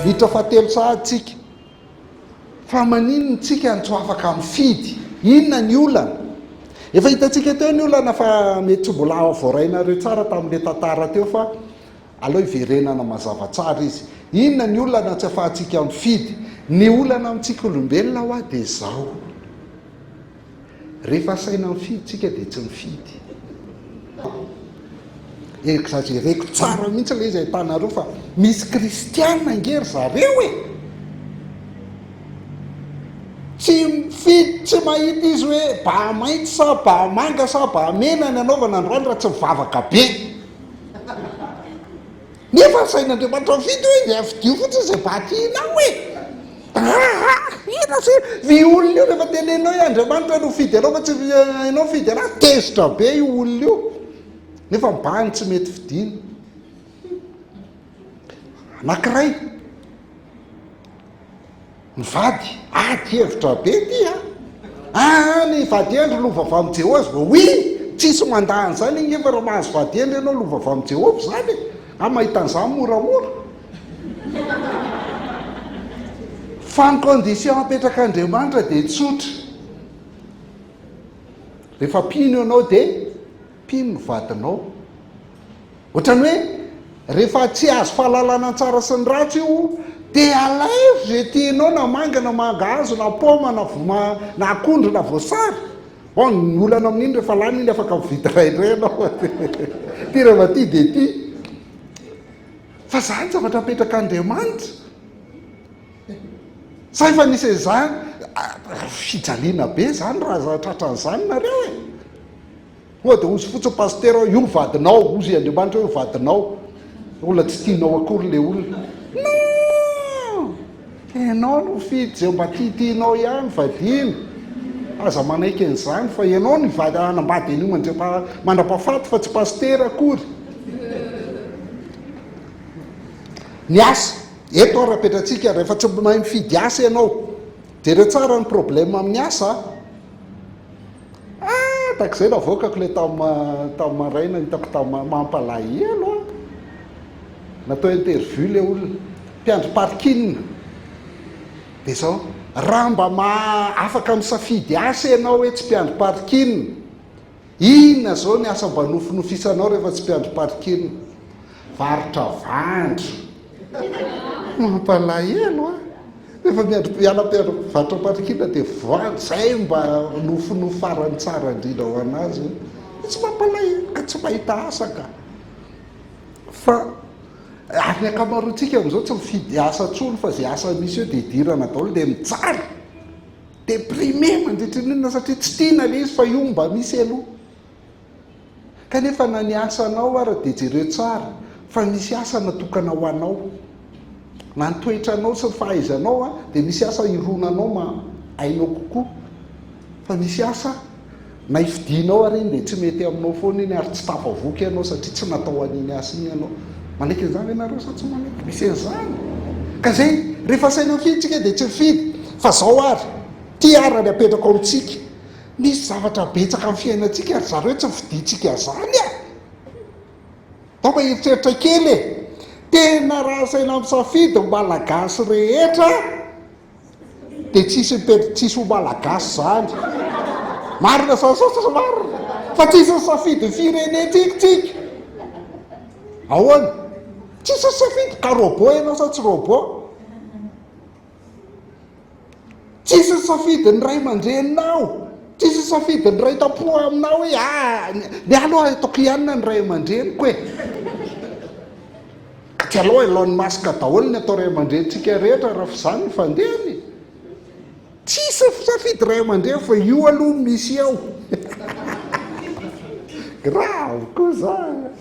Vita fahatelo sahady tsika. Fa maninona tsika no tsy afaka mifidy? Inona ny olana? Efa hitantsika teo ny olana fa mety tsy mbola voarainareo tsara tamin'ilay tantara teo fa Aleo hiverenana mazava tsara izy. Inona ny olana tsy afahantsika mifidy? Ny olana amintsika olombelona hoa dia izao, rehefa asaina mifidy tsika dia tsy mifidy. Exagereko tsara mihitsy ilay izy ahitanareo fa misy kristiana ange ry zareo e! Tsy mifidy, tsy mahita izy hoe ba mainty sa ba manga sa ba mena ny anaovana androany raha tsy mivavaka be. Nefa ny sain'Andriamanitra mifidy hoe dia fidio fotsiny izay vakianao e! Aa! Hira sy vy olona io rehefa tenenina hoe Andriamanitra no fidy anao fa tsy ianao fidy anazy, tezitra be io olona io nefa mibahana tsy mety fidiny. Anakiray. Mivady? Ady hevitra be ty a! Aa ny vady hendry lova avy amin'i Jehoas ve? Oui! Tsisy mandà an'izany agneva raha mahazo vady hendry ianao lova avy amin'i Jehovah izany e! Aho mahita an'izany moramora. Fa ny condition apetrak'Andriamanitra dia tsotra. Rehefa mpino ianao dia. Mpino ny vadinao. Ohatran'ny hoe rehefa tsy azo fahalalana ny tsara sy ny ratsy io dia alaivo izay tianao na manga na mangahazo na paoma na voma na akondro na voasary. Bon, ny olana amin'iny rehefa lany iny afaka mividy iray indray ianao an. Ty raha mba tia dia tia. Fa izany zavatra apetrak'Andriamanitra. Sa efa nisy an'izany? Fijaliana be izany raha tratran'izany nareo e. Koa dia ozy fotsiny pasitera hoe io ny vadinao, ozy Andriamanitra hoe vadinao, olona tsy tianao akory le olona. Non! Ianao no fidy izay mba tiatianao ihany, vadiana. Aza manaiky an'izany fa ianao no hivady hanambady an'io mandra-pahafaty fa tsy pasitera akory. Ny asa, eto ary apetratsika, rehefa tsy mahay mifidy asa ianao, jereo tsara ny problème amin'ny asa a. Ah! Tahaka izay navoakako ilay tamin'ny tamin'ny maraina, hitako tamin'ny mampalahelo an! Natao interview ilay olona, mpiandry parking. Dia izao, raha mba afaka misafidy asa ianao hoe tsy mpiandry parking, inona izao ny asa mba nofinofisanao rehefa tsy mpiandry parking? Varotra vandro. Mampalahelo an! Rehefa miandry mpiala vatram-parikiana dia voan, izay mba nofinofy farany tsara indrindra ho an'azy. Dia tsy mampalahelo ka tsy mahita asa ka. Fa ary ny ankamaroantsika amin'izao tsy mifidy asa intsony fa izay asa misy eo dia idirana daholo dia mijaly. Déprimé mandritra ny inona satria tsy tiana ilay izy fa io mba misy aloha. Kanefa na ny asanao ara dia jereo tsara fa misy asa natokana ho anao. Na ny toetranao sy ny fahaizanao dia misy asa ironanao maha ainao kokoa. Fa misy asa na ifidinao ary iny dia tsy mety aminao foana iny ary tsy tafavoaka ianao satria tsy natao an'iny asa iny ianao. Manaiky an'izany ve nareo sa tsy manaiky? Misy an'izany. Ka zay rehefa asaina mifidy tsika dia tsy mifidy fa zao ary ty arany apetrako amintsika. Misy zavatra betsaka amin'ny fiainantsika ry zareo tsy fidintsika izany a! Angamba eritreritra kely e! Tena raha asaina misafidy ny Malagasy rehetra dia tsisy mipetra, tsisy ho Malagasy izany. Marina izany sa tsy marina? Fa tsisy ny safidy ny firenentsika tsika. Ahoana? Tsisy ny safidy ka robot ianao sa tsy robot? Tsisy ny safidy ny ray aman-dreninao, tsisy ny safidy ny ray tam-po aminao hoe ah ny ahy aloha ataoko hianina ny ray aman-dreniko e. Ka tsy alao Elon Musk daholo ny atao ray aman-drenintsika rehetra raha f'izany ny fandehany. Tsisy ny safidy ray aman-dreny fa io aloha no misy eo. Grave koa zany.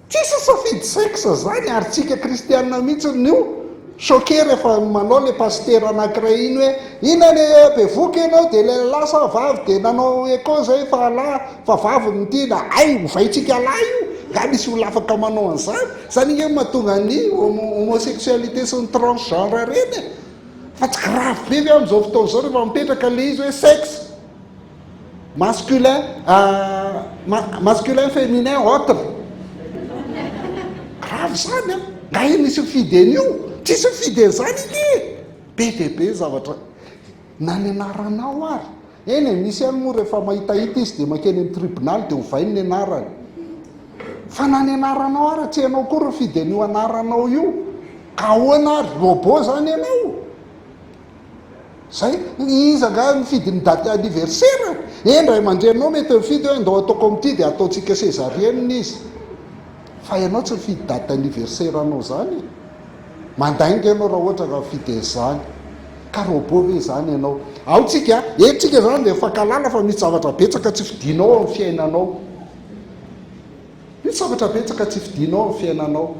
Tsisy safidy sexe zany ary tsika kristianina mihitsy no choquer rehefa manao le pasitera anakiray iny hoe ina le bevoka enao de le lahy sa vavy de nanao echo zay fa lahy fa vavy no tiana hay ovaintsika lahy io nga misy olona afaka manao anzany zany nge mahatonga ny homosexualité sy ny transgenre reny e fa tsy grave be ve amzao fotoana zao rehefa mipetraka le izy hoe sexe Masculin, ah, masculin féminin autre. Grave izany an! Nga io misy mifidy an'io? Tsisy mifidy an'izany ity e! Be dia be zavatra. Na ny anaranao ary. Eny e, misy ihany moa rehefa mahitahita izy dia mankeny amin'ny tribonaly dia ovainy ny anarany. Fa na ny anaranao ary, tsy ianao koa ry mifidy an'io anaranao io. Ka ahoana ary? Robot izany ianao? Zay, iza angaha no mifidy ny date anniversaire? Eny, ray aman-dreninao mety mifidy hoe ndao ataoko amin'ity dia ataontsika césarienne izy. Fa ianao tsy mifidy date anniversaire anao izany e! Mandainga ianao raha ohatra ka mifidy an'izany. Ka robot ve izany ianao? Ao tsika, eto tsika izany dia mifankahalala fa misy zavatra betsaka tsy fidinao ao amin'ny fiainanao. Misy zavatra betsaka tsy fidinao ao amin'ny fiainanao.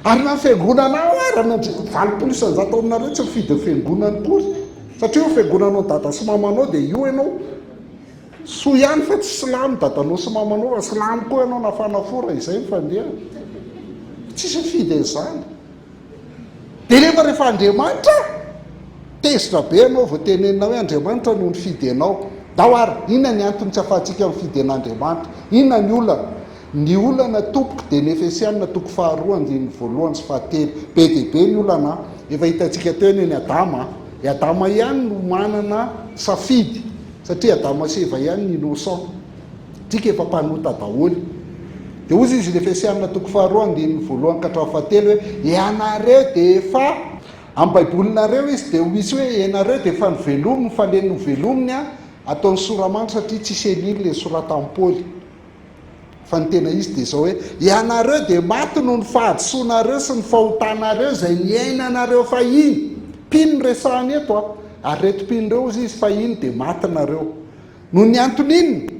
Ary na ny fiangonana ao ara no valopolo isanjato aminareo tsy mifidy ny fiangonany koa satria io fiangonanao dada sy mamanao dia io ianao soa ihany fa tsy silamo dadanao sy mamanao fa silamo koa ianao na fanafora izay ny fandehany tsisy mifidy an'izany dia nefa rehefa andriamanitra tezitra be ianao vao tenenina hoe andriamanitra no nifidy anao ndao ary inona ny antony tsy afahantsika mifidy an'andriamanitra inona ny olana Ny olana tompoko dia ny Efesiana toko faharoa andininy voalohany sy fahatelo. Be dia be ny olana an! Efa hitantsika teo anie ny Adama an! I Adama ihany no manana safidy satria Adama sy Eva ihany ny innocent. Tsika efa mpanota daholo. Dia hozy izy ny Efesiana toko faharoa andininy voalohany ka hatramin'ny fahatelo hoe, Ianareo dia efa. Amin'ny Baibolinareo izy dia misy hoe, Ianareo dia efa novelominy, fa ilay novelominy an, ataony soramanitra satria tsy selile, soratan-Paoly. Fa ny tena izy dia izao hoe, ianareo dia maty noho ny fahadisoanareo sy ny fahotanareo izay niainanareo fahiny. Mpino no resahany eto an. Ary ireto mpino ireo hozy izy, fahiny dia maty nareo. Noho ny antony inona?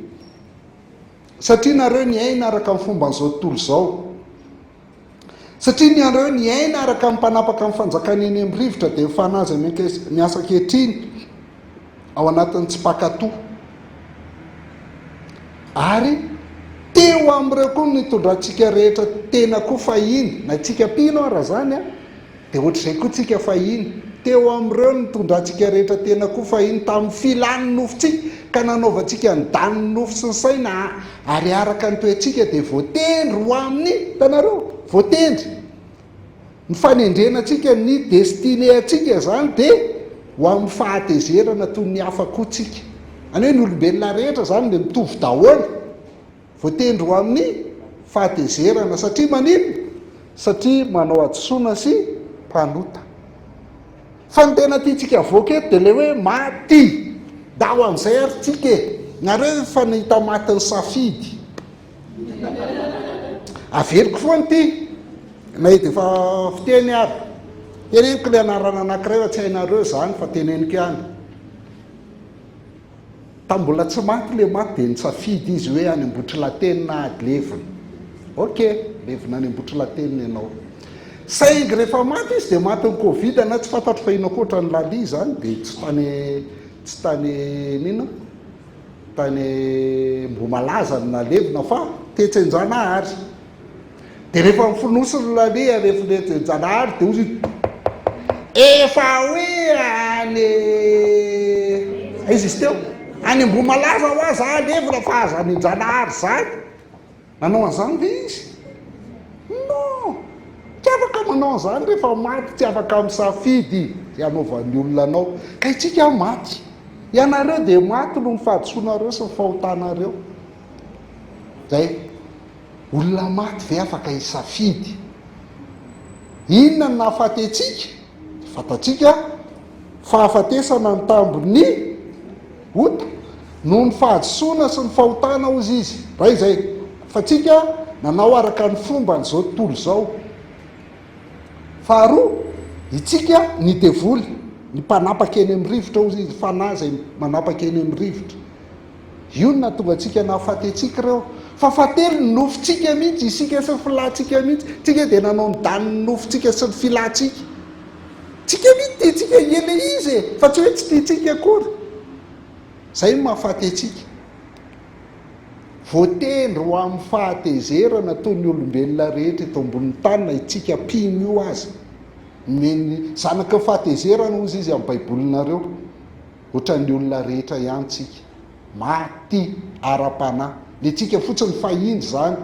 Satria nareo niaina araka ny fomban'izao tontolo izao. Satria ny anareo niaina araka ny mpanapaka ny fanjakana eny amin'ny rivotra dia ny fanahy izay miasa ankehitriny ao anatin'ny tsy mpankatò. Ary teo amin'ireo koa nitondrantsika rehetra tena koa fahiny, na tsika mpino ara izany an. Dia ohatr'izay koa tsika fahiny. Teo amin'ireo nitondra antsika rehetra tena koa fahiny, tamin'ny filàn'ny nofontsika, ka nanaovantsika ny danin'ny nofo sy ny saina, ary araka ny toe-tsika dia voatendry ho amin'ny, hitanareo? voatendry. Ny fanendrena antsika, ny destinée antsika izany dia ho amin'ny fahatezerana toy ny hafa koa tsika. Izany hoe ny olombelona rehetra izany dia mitovy daholo. Voatendry ho amin'ny fahatezerana. Satria maninona? Satria manao hadisoana sy mpanota. Fa ny tena tiantsika havoaka eto dia ilay hoe maty. Ndao amin'izay ary tsika e! Nareo ve efa nahita matin'ny safidy? Averiko foana ity, na dia efa fiteny ary. Teneniko ilay anarana anankiray fa tsy hainareo izany fa teneniko ihany. Tamin'ny mbola tsy maty le maty dia nitsafidy izy hoe any Ambohitrilateny na ady levona. Ok, levona any Ambohitrilateny ny anao. Saingy rehefa maty izy dia maty ny covid na tsy fantatro fa inona koa ny lalia izany dia tsy tany tsy tany nino tany Ambohimalaza no nalevina fa tetsy Anjanahary. Dia rehefa mifonosiny ny lalea rehefireto e Janahary dia hozy efa hoe any aiza izy teo any Ambohimalaza ho aza alevina fa aza any Janahary izany nanao an'izany ve izy non tsy afaka manao an'izany rehefa maty tsy afaka misafidy izay hanaovan'ny olona anao ka itsika maty ianareo dia maty noho ny fahadisoanareo sy ny fahotanareo zay Olona maty ve afaka hisafidy? Inona no nahafaty antsika? Dia fantatsika fahafatesana ny tambin'ny ota, noho ny fahadisoana sy ny fahotana, hozy izy. Ray izay, fa tsika nanao araka ny fomban'izao tontolo izao. Faharoa, itsika ny devoly, ny mpanapaka eny amin'ny rivotra, hozy izy, fanahy izay manapaka eny amin'ny rivotra. Io no nahatonga antsika nahafaty antsika ireo. Fa fatery ny nofontsika mihitsy, isika sy ny filantsika mihitsy. Tsika dia nanao ny danin'ny nofontsika sy ny filantsika. Tsika mihitsy tiantsika hiely ilay izy e, fa tsy hoe tsy tiantsika akory. Izay no mahafaty antsika. Voatendry ho amin'ny fahatezerana toy ny olombelona rehetra eto ambonin'ny tany na itsika mpino io aza. Nomen'ny zanaky ny fahatezerana hozy izy amin'ny baibolinareo. Ohatran'ny olona rehetra ihany tsika, maty ara-panahy. Ny antsika fotsiny fahiny izany,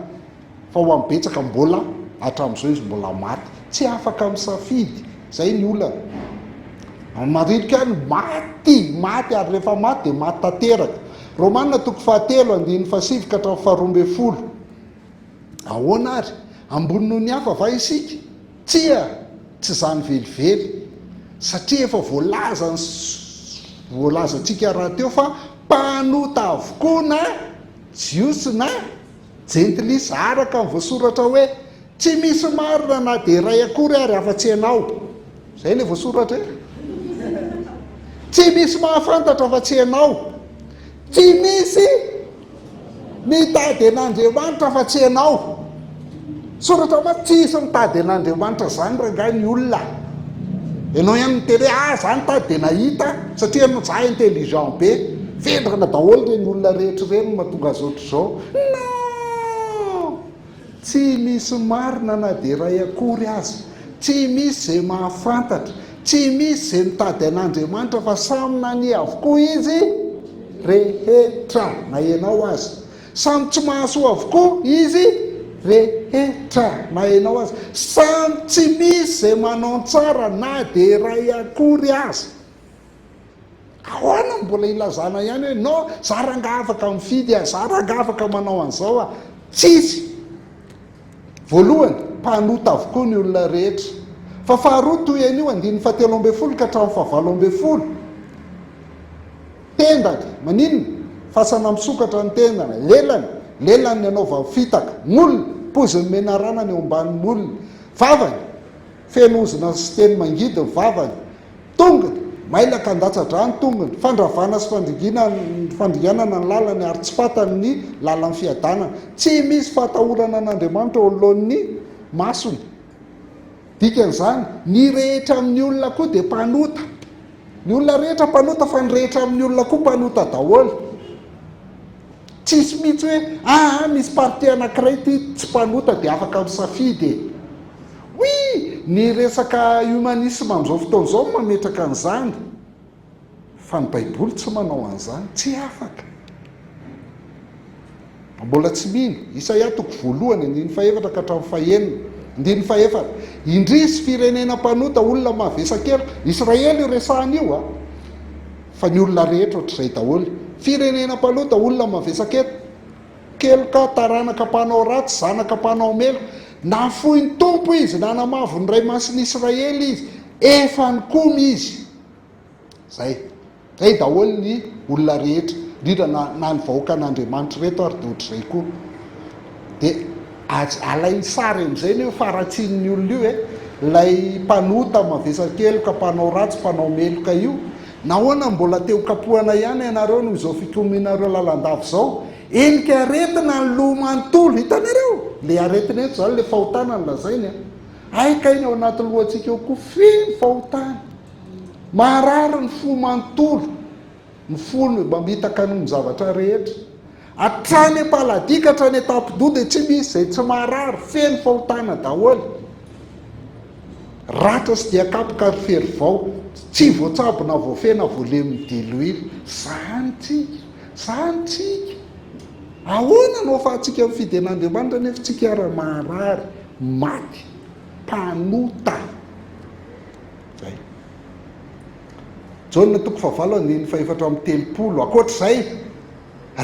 fa ho an'ny betsaka mbola, hatramin'izao izy mbola maty. Tsy afaka misafidy, izay ny olana. Any Maririka any, maty, maty ary rehefa maty dia maty tanteraka. Romana toko fahatelo, andininy fahasivy ka hatramin'ny faharoa ambin'ny folo. Ahoana ary? Ambony noho ny hafa va isika? Tsia, tsy izany velively, satria efa voalaza ny voalazantsika rahateo fa mpanota avokoa na Jiosy na Jentilisa, araka ny voasoratra hoe, Tsy misy marina na dia iray akory ary afa-tsy ianao. Izay ilay voasoratra e. Tsy misy mahafantatra afa-tsy ianao. Tsy misy. Mitady an'Andriamanitra fa tsy ianao. Soratra mantsy tsisy mitady an'Andriamanitra izany rangahy ny olona. Ianao ihany miteny hoe ah za nitady dia nahita satria ianao za intelligent be. Vendrana daholo ireny olona rehetra ireny mahatonga azy ohatr'izao. Non! Tsy misy marina na dia iray akory aza. Tsy misy izay mahafantatra. Tsy misy izay mitady an'Andriamanitra fa samy nania avokoa izy rehetra, na ianao aza. Samy tsy mahasoa avokoa izy rehetra, na ianao aza. Samy tsy misy izay manao ny tsara na dia iray akory aza. Ahoana no mbola ilazana ihany hoe non za rangah afaka mifidy ah, za rangah afaka manao an'izao ah. Tsisy. Voalohany, mpanota avokoa ny olona rehetra. Fa faharoa, toy an'io andininy fahatelo ambin'ny folo ka hatramin'ny fahavalo ambin'ny folo, tendany, maninona? Fasana misokatra ny tendany, lelany, lelany ny anaovany fitaka, molony, pozin'ny menarana ny eo ambanin'ny molony, vavany, Feno ozona sy teny mangidy ny vavany. Tongony! Mailaka handatsa-dra ny tongony. Fandravana sy fandringina ny fandringanana ny lalany ary tsy fantany ny lalan'ny fiadanana. Tsy misy fahatahorana an'Andriamanitra eo anoloan'ny masony. Dikan'izany, ny rehetra amin'ny olona koa dia mpanota. Ny olona rehetra mpanota fa ny rehetra amin'ny olona koa mpanota daholo. Tsisy mihitsy hoe aa misy parti anakiray ity tsy mpanota dia afaka misafidy e. Oui, ny resaka humanisme amin'izao fotoana izao no mametraka an'izany fa ny baiboly tsy manao an'izany, tsy afaka. Mbola tsy mino. Isaia toko voalohany, andininy fahefatra ka hatramin'ny fahenina. Andininy fahefatra. Indrisy, firenena mpanota, olona mavesa-keloka. Israely io resahana io a! Fa ny olona rehetra ohatr'izay daholo. Firenena mpanota, olona mavesa-keloka, keloka, taranaka mpanao ratsy, zanaka mpanao meloka. Nafoy ny Tompo izy, nanamavo ny Ray Masin'Israely izy. Efa nikomy izy. Zay. Zay daholo ny olona rehetra, indrindra na na ny vahoakan'Andriamanitra ireto ary dia ohatr'izay koa. Dia aj- alain'ny sary amin'izay ny hoe faharatsian'ny olona io e. Ilay mpanota, mavesa-keloka, mpanao ratsy, mpanao meloka io, nahoana mbola te ho kapohana ihany ianareo noho izao fikomianareo lalandava izao? Endrika aretina ny loha manontolo, hitanareo? Ilay aretina eto izany ilay fahotana no lazainy a. Hay kay ny ao anaty lohantsika ao koa feno fahotana. Maharary ny fo manontolo, ny fony mamitaka ny zavatra rehetra. Hatrany am-paladia ka hatrany an-tampidoha dia tsy misy izay tsy maharary, feno fahotana daholo. Ratra sy dia kapoka ary fery vao, tsy voatsabo na voafehy na voalemin'ny diloilo. Zany tsika, zany tsika. Ahoana no ahafahantsika mifidy an'Andriamanitra nefa tsika ara-maharary, maty, mpanota. Izay. Jaona toko fahavalo andininy fahefatra amby telopolo. Ankoatr'izay,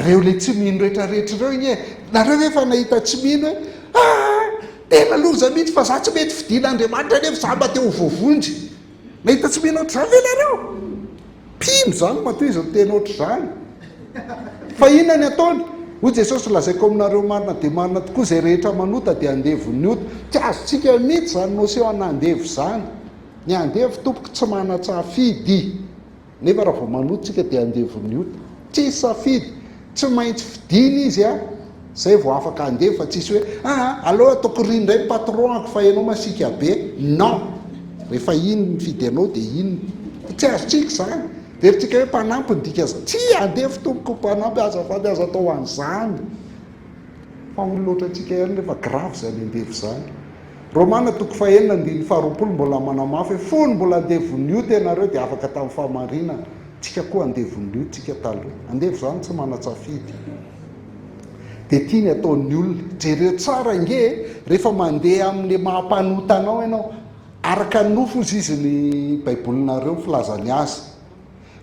reo le tsy mino rehetra rehetra reo anie. Nareo ve efa nahita tsy mino hoe ah tena loza mihitsy fa za tsy mety fidina Andriamanitra nefa za mba te ho voavonjy. Nahita tsy mino ohatr'izany ve nareo? Mpino izany mateza miteny ohatr'izany. Fa inona ny ataony? Hoy Jesosy, Lazaiko aminareo marina dia marina tokoa, izay rehetra manota dia andevon'ny ota. Tsy azontsika mihitsy izany notion ana andevo izany. Ny andevo tompoko tsy manan-tsafidy. Nefa raha vao manota isika dia andevon'ny ota. Tsisy safidy. Tsy maintsy fidiny izy a! zay vao afaka handeha fa tsisy hoe aa aleo ataoko ry indray ny patron-ako fa ianao masiaka be! Non! rehefa iny ny fidy anao dia iny fa tsy azontsika izany! Verintsika hoe mpanampy ny dikan'izany. Tsia! Andevo tompoko mpanampy azafady aza atao an'izany! Fa olona ohatrantsika ihany nefa grave izany andevo izany. Romana toko fahenina andininy faharoapolo mbola manamafy hoe fony mbola andevon'ny ota ianareo dia afaka tamin'ny fahamarinana. Tsika koa andevon'lio tsika taloha. Andevo zany tsy manatsafidy. Dia ity ny ataon'ny olona. Jereo tsara ange e, rehefa mandeha amin'le maha mpanota anao ianao. Araka ny nofo ozy izy ny baibolinareo filazany azy.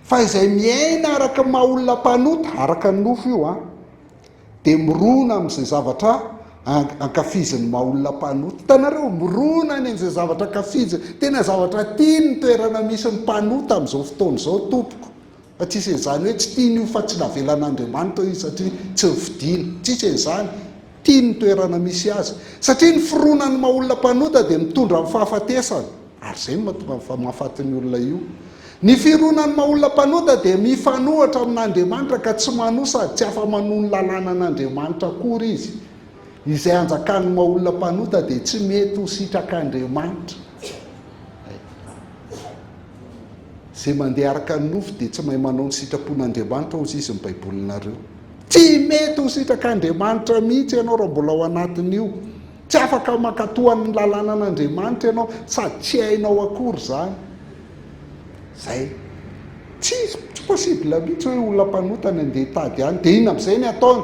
Fa izay miaina araka ny maha olona mpanota, araka ny nofo io an. dia mirona amin'izay zavatra ankafizin'ny maha olona mpanota. Hitanareo, mirona any amin'izay zavatra ankafiziny. Tena zavatra tiany ny toerana misy ny mpanota amin'izao fotoana izao, tompoko. Fa tsy hisy an'izany hoe tsy tiany io fa tsy navelan'Andriamanitra io izy satria tsy nifidiny. Tsy hisy an'izany. Tiany ny toerana misy azy. Satria ny fironan'ny maha olona mpanota dia mitondra amin'ny fahafatesana. Ary izay no mahatonga ny fahafatin'ny olona io. Ny fironan'ny maha olona mpanota dia mifanohitra amin'Andriamanitra ka tsy manoa sady tsy afa-manoa ny lalànan'Andriamanitra akory izy. Izay anjakan'ny maha olona mpanota dia tsy mety ho sitrak'Andriamanitra. Izay mandeha araka ny nofo dia tsy mahay manao ny sitrapon'Andriamanitra hozy izy ny Baibolinareo. Tsy mety ho sitrak'Andriamanitra mihitsy ianao raha mbola ao anatin'io. Tsy afaka mankatò an'ny lalànan'Andriamanitra ianao sady tsy hainao akory izany. Izay. Tsy, tsy possible mihitsy hoe olona mpanota ny andeha hitady any, dia inona amin'izay ny ataony?